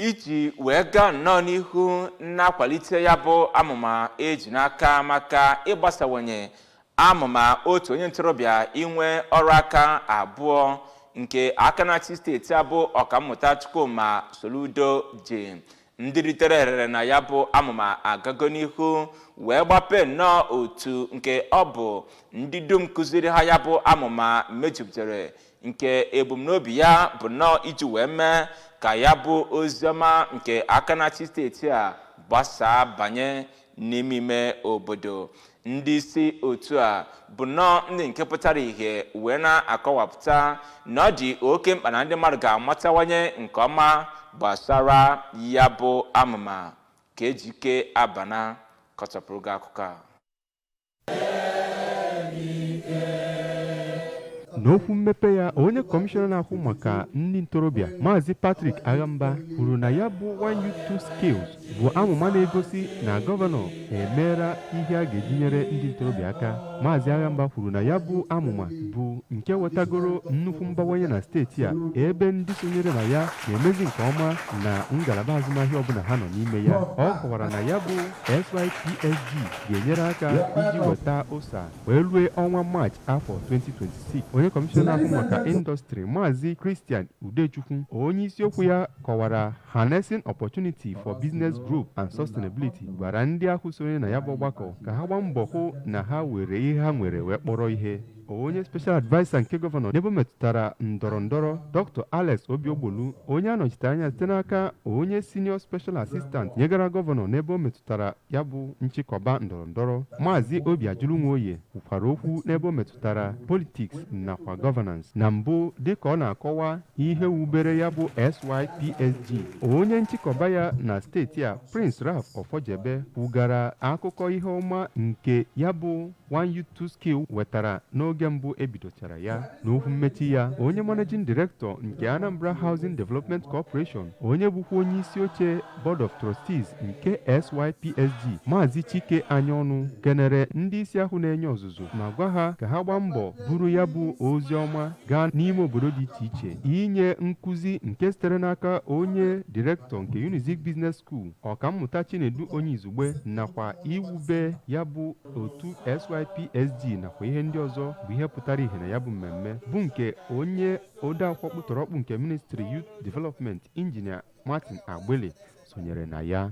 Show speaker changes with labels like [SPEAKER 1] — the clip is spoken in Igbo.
[SPEAKER 1] iji wee gaa nnọọ n'ihu na-akwalite ya bụ amụma eji n'aka maka ịgbasawanye amụma otu onye ntorobịa inwe ọrụ aka abụọ nke aka na-achị steeti a bụ ọkammụta Chukwuma Soludo ji ndị ritere erere na ya bụ amụma agago n'ihu wee gbapee nnọọ otu nke ọ bụ ndị dum kụziri ha ya bụ amụma mejupụtara nke ebumnobi ya bụ nnọọ iji wee mee ka ya bụ oziọma nke aka na-achị steeti a gbasaa banye n'ime ime obodo ndị isi otu a bụ nnọọ ndị nke pụtara ihe wee na-akọwapụta na ọ dị oke mkpa na ndị mmadụ ga-amatawanye nke ọma gbasara ya bụ amụma ka Ejike Abana kọchapụrụ gị akụkọ a
[SPEAKER 2] n'okwu mmepe ya onye kọmishọna na-ahụ maka ndị ntorobịa maazị Patrick Aghamba kwuru na ya bụ One Youth Two Skills bụ amụma na-egosi na gọvanọ emeela ihe a ga-eji nyere ndị ntorobịa aka maazị Aghamba kwuru na ya bụ amụma bụ nke wetagoro nnukwu mbawanye na steeti a ebe ndị sonyere na ya na-emezi nke ọma na ngalaba azụmahịa ọbụla ha nọ n'ime ya ọ kọwara na ya bụ SYPSG ga-enyere aka iji weta ụsa wee rue ọnwa maachị afọ 2026 onye kọmishọna ahụ maka indọstrị maazị Christian Udechukwu onye isiokwu ya kọwara harnessing opportunity for business growth and sustainability gwara ndị ahụ sonye na ya bụ ọgbakọ ka ha gbaa mbọ hụ na ha were ihe ha nwere wee kpọrọ ihe onye special adviser nke gọvanọ n'ebe metụtara ndọrọ ndọrọ dr alex obiogbolu onye anọchite anya site n'aka onye senior special assistant nyegara gọvanọ n'ebe o metụtara ya bụ nchịkọba ndọrọ ndọrọ maazị obiajụlụ nwoye kwukwara okwu n'ebe o metụtara politics nakwa governance na mbụ dịka ọ na-akọwa ihe wubere ya bụ sypsg onye nchịkọba ya na steeti a prince ralph ọfọjebe kwugara akụkọ ihe ọma nke ya bụ One Youth Two Skill wetara n'oge mbụ ebidochara ya n'okwu mmechi ya onye managing director nke Anambra Housing Development Corporation onye bụkwa onye isi oche Board of Trustees nke SYPSG Maazị Chike Anyaọnụ kenere ndị isi ahụ na-enye ọzụzụ ma gwa ha ka ha gbaa mbọ buru ya bụ ozi ọma gaa n'ime obodo dị iche iche inye nkụzi nke sitere n'aka onye direktọ nke Unizik Business School ọkammụta Chinedu Onyeizugbe nakwa iwube ya bụ otu SYPSG nakwa ihe ndị ọzọ bụ ihe pụtara ihe na ya bụ mmemme bụ nke onye odeakwụkwọ ọkpụtọrọkpụ nke Ministry Youth Development Injinia Martin Agbili sonyere na ya